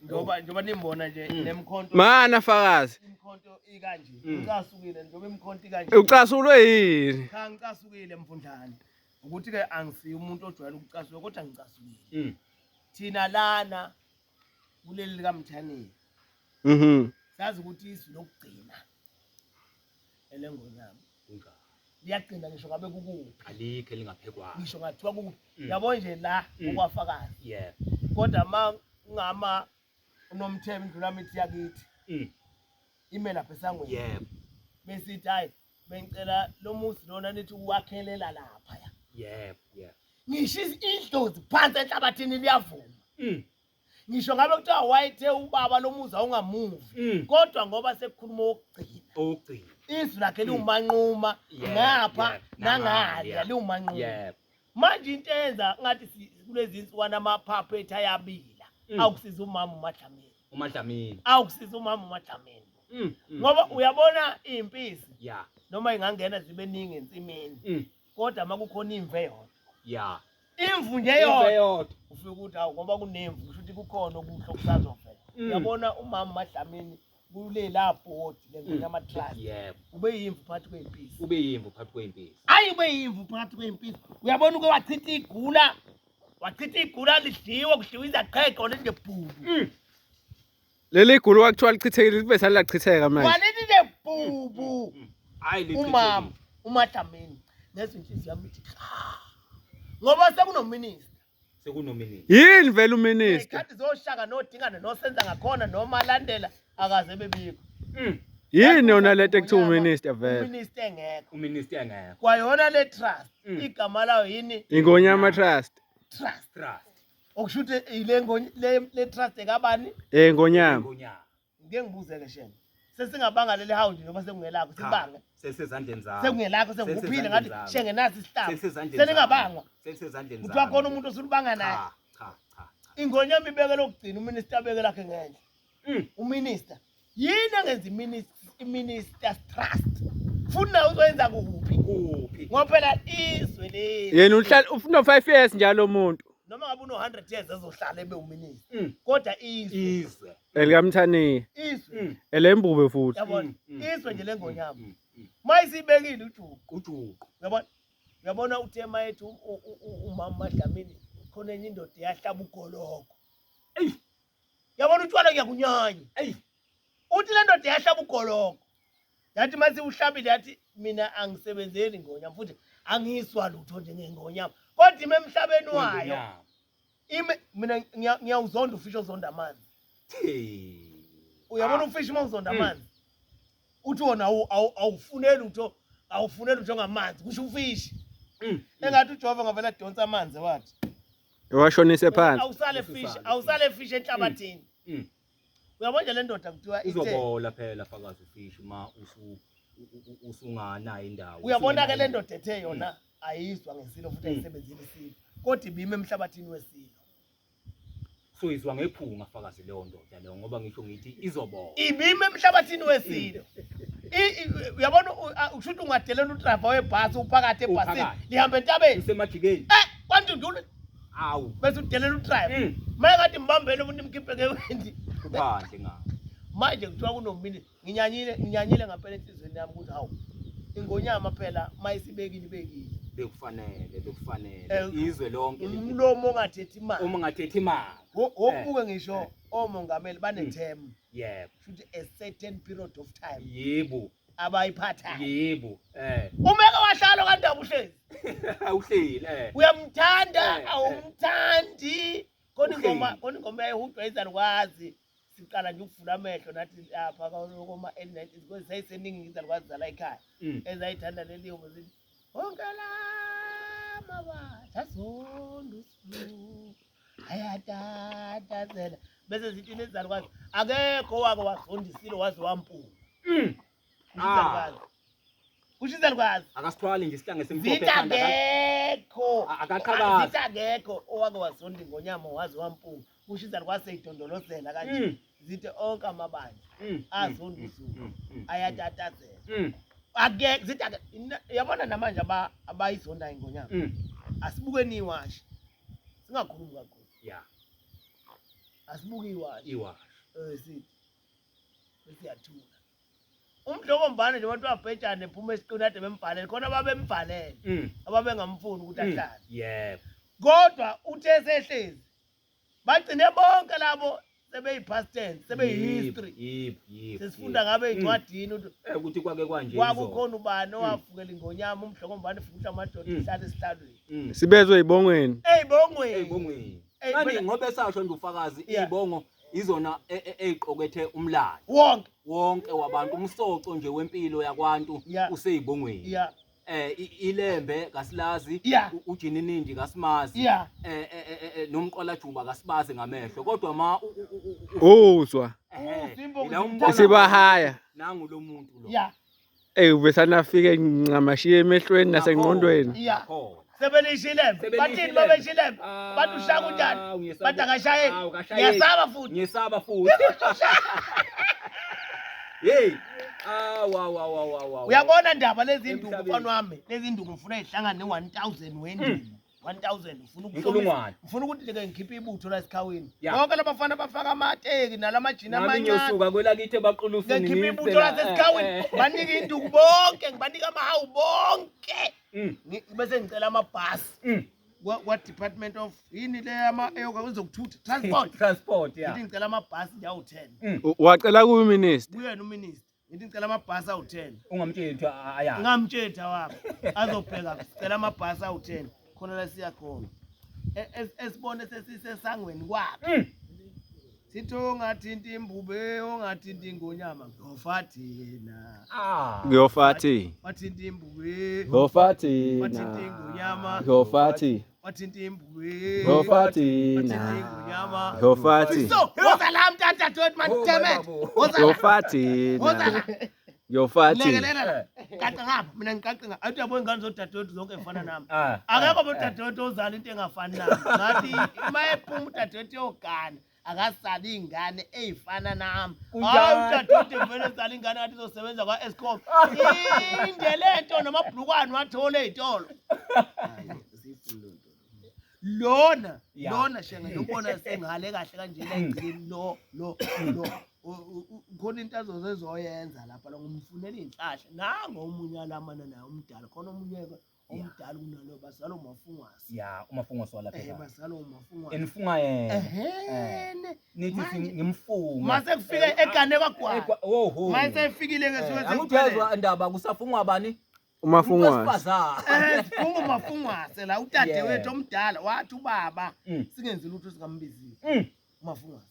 njengoba njengoba nimbona nje mm. nemkhonto mana fakazi imkhonto ikanje mm. ucasukile njengoba imkhonto ikanje ucasulwe yini cha ngicasukile mfundlane ukuthi ke angisiyo umuntu ojwayele ukucasuka kodwa ngicasukile mm. thina lana kuleli likamthaneni mhm sazi ukuthi isu lokugcina elengonyama kunjalo liyaqina ngisho ngabe kukuphi alikho elingaphekwayo ngisho ngathiwa kukuphi mm. yabo nje la mm. okwafakazi yeah kodwa ma ngama unomthembi ndlula mithi yakithi mm. imela phesangweni yeah besithi hayi bengicela lo muzi lona nithi uwakhelela lapha ya yeah yeah ngisho idlozi phansi enhlabathini liyavuma mm. ngisho ngabe kuthiwa wayethe ubaba lomuzi awungamuvi mm. kodwa ngoba sekukhuluma okugcina okugcina izwi lakhe mm. liwumanquma ngapha nangalya liwumanquma manje into eyenza ngathi kulezi nsukwana amaphaphu ethu ayabila mm. awukusiza umama umadlamini umadlamini awukusiza umama umadlamini ngoba uyabona iy'mpisi noma ingangena zibe ningi ensimini kodwa uma kukhona imvu eyodwa ya imvu nje eyodwa ufike ukuthi awu ngoba kunemvu kusho ukuthi kukhona okuhle okusazovela mm. uyabona umama umadlamini kulela bhodi lento mm. yamatrust yebo ube yimvu phakathi kwey'mpisi ube yimvu phakathi kwey'mpisi ayi ube yimvu phakathi kwey'mpisi uyabona uke wachitha igula wachitha igula lidliwe kudliwa izaqheqo lengebhuku mm. Leli gulu kwakuthiwa lichithekile libe salachitheka manje. Waleli lebhubu. Hayi lichithekile. Umama uMadlamini ngezwe inhliziyo yami ithi cha. Ngoba sekunominister. Sekunominister. Yini vele uminister? Ikhathi zoshaka nodingana nosenza ngakhona noma landela akaze bebikho. Mm. Yini yona lento ekuthiwa uminister vele? Uminister engekho. Uminister engekho. Kwayona le trust mm. igama layo yini? Ingonyama trust. Trust. Trust. okusho ukuthi ile ngo- le le trust ekabani Eh ngonyama. Ngonyama. ngeke ngibuzeke shema sesingabanga leli hawundi noma sekungelakho Cha, sibange Selisezandleni zakho. sekungelakho senguphile ngathi Selisezandleni shenge nasi isihlaba Selisezandleni seningabangwa zakho. Selisezandleni ukuthi wakhona umuntu osulubanga naye Cha, cha, cha, cha. ingonyama ibeke lokugcina uminister abeke lakhe ngenhla mm. uminister yini engenza iminister trust futhi nawe uzoyenza kuphi kuphi ngoba phela izwe leli yena uhlala ufuna 5 years njalo umuntu noma ngabe uno 100 years ezohlala ebe uminister mm. kodwa izwe izwe elikamthaniya izwe mm. elembube futhi yabona mm, izwe nje lengonyama mayisibekile ujuqu ujuqu yabona yabona uthe mayethu umama madlamini khona enye indoda yahlaba ugoloko eyi yabona utshwala ngiyakunyanya eyi uthi le ndoda yahlaba ugoloko yathi uma siwuhlabile yathi mina angisebenzeli ngonyama futhi angiyiswa lutho njengengonyama kodwa ime emhlabeni wayo ime mina ngiyawuzonda ufisha ozonda amanzi uyabona ah. ufisha uma uzonda hmm. amanzi uthi wona awufuneli utho awufuneli utho ngamanzi kusho ufishi hmm. engathi ujehova ngavele adonsa amanzi wathi Washonise phansi. Awusale fish, awusale fish enhlabathini. Mm. Mm. Uyabona nje le ndoda kuthiwa ithe. Uzobola phela fakazi ufish uma usu usungana indawo. Uyabona ke le ndoda ethe yona mm. ayizwa ngesilo futhi ayisebenzile isilo. Kodwa ibime emhlabathini wesilo. So izwa ngephunga fakazi leyo ndoda. Yalo ngoba ngisho ngithi izobona. Ibime emhlabathini wesilo. Uyabona usho ukuthi ungadelela udrava webhasi uphakathi ebhasini lihamba entabeni. Usemajikeni. Eh kwantu ndulu. Awu bese udelela udrava. Mm. Manje ngathi mbambele umuntu imkhiphe ngewendi. Kuphandle ngawo. Manje kuthiwa kunominisi. nginyanyile nginyanyile ngampela enhlizweni yami ukuthi hawu ingonyama phela mayisibekile ibekile bekufanele bekufanele Eh, izwe lonke li- umlomo ongathethi uma imali ungathethi imali Wo- wokubuke Eh, ngisho eh. omongameli baneterm yebo futhi a certain period of time yebo abayiphathayo yebo eh umeke wahlalo kandaba uhlezi awuhleli eh uyamthanda Eh, eh. awumthandi khona ingoma Uhleli. khona ingoma yayihudwa izalukwazi siqala nje ukuvula amehlo nathi lapha koma elinetini because zayiseningi ngizalukwazi zala ekhaya mm. ezayithanda leli yobo zithi wonke lamawa sasonda usilu ayatatazela bese zithi nezalukwazi akekho wake wazondisile waze wampunga mm. Ngizalukwazi. Kusho izalukwazi. Akasithwali nje isihlange simhlophe Zitha ekhanda. ka- ngekho. A- Akaqhakazi. Zitha ngekho owake wasonda ingonyama waze wampunga. Kusho izalukwazi seyidondolozela kanje. Mm, Zithe onke amabandla mm, azonda mm, usuku. mm, mm, Ayatatazela. mm, Ake zitha ke- ina- yabona namanje aba abayizonda ingonyama. mm. Asibuke niwashi. Singakhulumi kakhulu. Yeah, Asibuke iwashi. iwa. Eh sithi bese yathula umdlokombane nje abantu babhejane phuma esiqini ade bembhalele khona babembhalele Mm. ababengamfuni ukuthi Mm. ahlale Yebo. kodwa uthe sehlezi bagcine bonke labo sebeyi-past tense sebeyi-history Yebo, yebo, sesifunda yebo. ngabe Mm. ey'ncwadini ukuthi Eh, ukuthi kwake kwanje. izolo. kwakukhona ubani owavukela ingonyama umdlokombane futhi amadoda Mm. ihlale esihlalweni Mm. sibezwe ibongweni Ey, ey'bongweni bongweni. Ey, Kanti phela- ngoba esasho nje ufakazi Yeah. ibongo izona e- e- eziqokethe umlando wonke wonke wabantu umsoco nje wempilo yakwantu Yeah. useyibongweni ya eh i- ilembe kasilazi Yeah. u- ujininindi kasimazi ya eh eh, eh, eh, nomqwalajuba kasibazi ngamehlo kodwa ma u- u- u- u- uzwa ehe, Uzimbongi ila zimthatha. umbona- usibahaya nangu lo muntu lo ya Ey ubesana afike ncamashiye emehlweni nasengqondweni. Yeah. Sebelishile. Bathini babeshile. Bathi ushaya kunjani? Bathi akashaye. Ngiyasaba futhi. Ngiyasaba futhi. Hey. Ah wa wa wa wa wa. Uyabona ndaba lezi nduku mfana wami. Lezi nduku ngifuna ihlangane ne-1000 wenduku. 1000 ufuna Inkulungwane. ufuna ukuthi ngeke ngikhiphe ibutho la esikhawini Ya. bonke labafana bafaka amateki nalamajini Nami amancane ngiyosuka kwelakithi ebaqulufuni. ngikhiphe ibutho la sesikhawini Eh, eh, banike induku bonke ngibanike amahawu bonke eh. Mm, Ngi- bese ngicela amabhasi mm. kwa- kwa-department of yini le ama- eyoka- ezokuthutha transport Transport, ya. ngithi ngicela amabhasi njawu-ten Mm. U- Wacela kuyi minister. kuyena uminister ngithi ngicela amabhasi awu-ten ungamtsheli kuthiwa aya ngamtsheli thawabo azobheka sicela amabhasi awu-ten khona la siya khona E- es- esibone sesisesangweni kwakhe Mm. sithi ongathinti imbube ongathinti ingonyama ngiyofa thina Ah. Ngiyofathi. wathinta imbube Ngiyofathi. wathinta ingonyama Ngiyofathi. wathinta imbulu yofati na yofati so woza la mtata dot man oh, damn it woza yofati woza la yofati lekelela la kaqe ngapha mina ngiqaqe ngapha athi yabo ingane zodadewethu zonke ngifana nami ah, ah, akekho ah. bodadewethu ozala into engafani nami ngathi uma ephuma udadewethu yogana akasali ingane eyifana nami hayi udadewethu vele sali ingane ngathi izosebenza kwa-escom inde le nto nomabhulukwane wathole ey'tolo lona lona shenge lobona sengale kahle kanjena egcini lo lo lo khona into azoze ezoyenza lapha la ngomfunela iy'nhlahla nango omunye alamana naye umdala khona omunye omdala kunalo bazalo mafungwasi ya umafungwasi wala phela eh bazalo mafungwasi enifunga yena eh nithi ngimfunga mase kufike eh, egane kwagwala oho mase efikile ke siwe eh, angijezwa indaba kusafungwa bani umafungwase eh, umafungwase la utade wethu omdala wathi ubaba mm. singenzi lutho sikambiziwe mm. umafungwase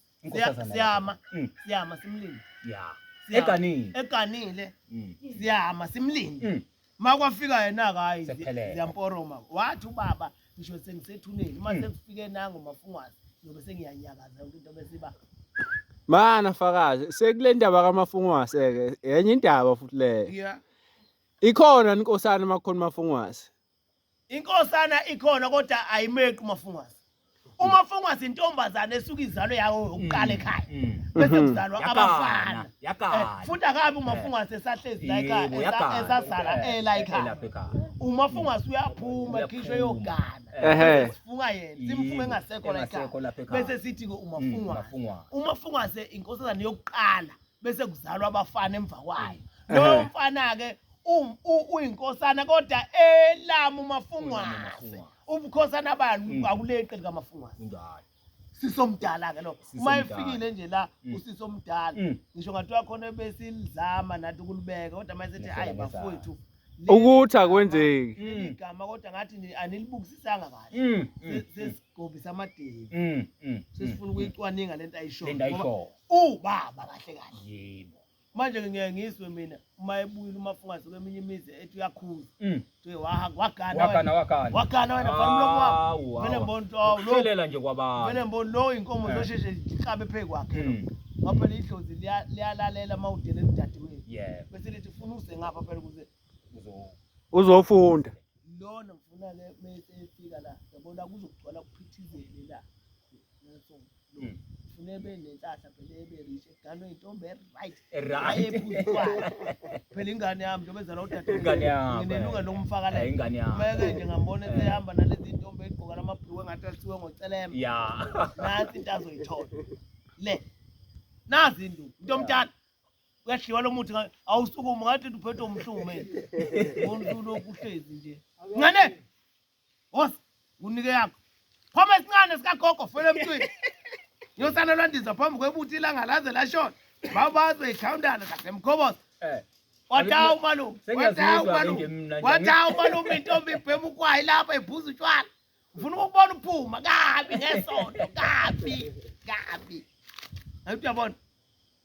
siyama mm. siyama simlinde ya eganile eganile mm. siyama simlinde mm. makwafika yena kayi ziyamporoma wathi ubaba ngisho sengisethuneni uma sekufike nango mafungwazi ngiyobe sengiyanyakaza yonke into besiba mana fakazi sekule ndaba kamafungwase ke yenye indaba futhi leyo ikhona inkosana makhona mafungwase Inkosana ikhona kodwa ayimeqi umafungwazi. Umafungwazi intombazane esuka izalo yawo yokuqala mm, ekhaya. Mm. Bese mm. kuzalwa abafana. Yakana. Eh, futhi akabi umafungwazi esahlezi la ekhaya esasala ela ekhaya. Umafungwazi uyaphuma ekhishwe yogana. Ehe. Sifunga yena, simfunga engasekho la ekhaya. Bese sithi ke umafungwazi. Umafungwazi inkosazane yokuqala. bese kuzalwa abafana emva kwayo lowo mfana-ke u- u- uyinkosana kodwa elamu umafungwase Mafungwase. ubukhosana bani Mm. akuleqe likamafungwase Kunjalo. sisomdala-ke lo Sisi uma omdala. efikile nje la Mm. usisi omdala Mm. ngisho ngathiwa khona besilizama nathi ukulibeka kodwa uma sethi Ngehlela ayi ngezansi. bafowethu ukuthi akwenzeki Mm. igama kodwa ngathi ni- anilibukisisanga kahle Mm. Mm. Se- sesigobisa amadevu Mm. Mm. sesifuna ukuyicwaninga lento ayishoyo Lento ayishoyo. Ngoba Ubaba kahle kahle. Yebo. Manje ngiye ngizwe mina uma ebuyile umafungazi kweminye imizi ethi uyakhuza. Mm. Nje wahamba wagana. Wagana wagana. Wagana wena bani mlomo wakho. Vele mbona ukuthi awu lo. Uthelela nje kwabantu. Vele mbona lo inkomo eh. zosheshe ihlabe phezu kwakhe. Mm. Ngoba phela idlozi liyalalela uma udele lidadimile. Yebo. Bese lithi funa uze ngapha phela ukuze uzofunda. Lona ngifuna ke mese efika la. Yabona kuzogcwala kuphithizele la. Hmm. Ufuna ebe nenhlahla phela ebe rich eganwe intombi eright. Right. Phela ingane yami njengoba ezala udade. Ingane yami. Nginelunga lokumfaka la. Ingane yami. Meke nje ngambona eh. sehamba nalezi intombi egqoka lamabhluku engathi alisiwe ngocelema. Yeah. Nathi into azoyithola. Le. Nazi indu. Into omdala. Uyadliwa lo muthi awusukume ngathi uphethwe umhlume. Umuntu lokuhlezi nje. Ngane. Woza unike yakho. Phoma isincane sika gogo fela emntwini. Yosana lwandiza phambi kwebuthi ilanga laze lashona. Babazo ikhawundana kasemkhoboza. Eh. Wathawu Aliku- malume. Sengiyazizwa Wathawu ke malume. nje mina nje. Wathawu malume intombi ibhema ukwayi lapha ibhuza utshwala. Ufuna ukubona uphuma kabi ngesonto kabi kabi. Hayi uyabona.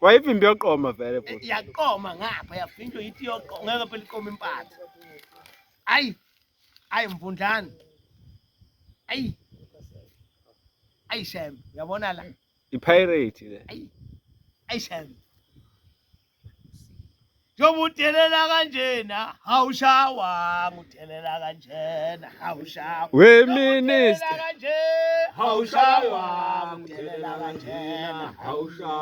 Wayivimba yoqoma vele eh, futhi. Yaqoma ngapha yavinjwa yithi yoqoma ngeke phela iqoma impatha. Ayi. Ayi mvundlana. Ayi. Ayi shem, uyabona la. Ipirate le. Ayi. Ayi shem. Njengobudelela kanjena, hawushawa, ngudelela kanjena, hawushawa. We minister. Hawushawa, ngudelela kanjena, hawushawa.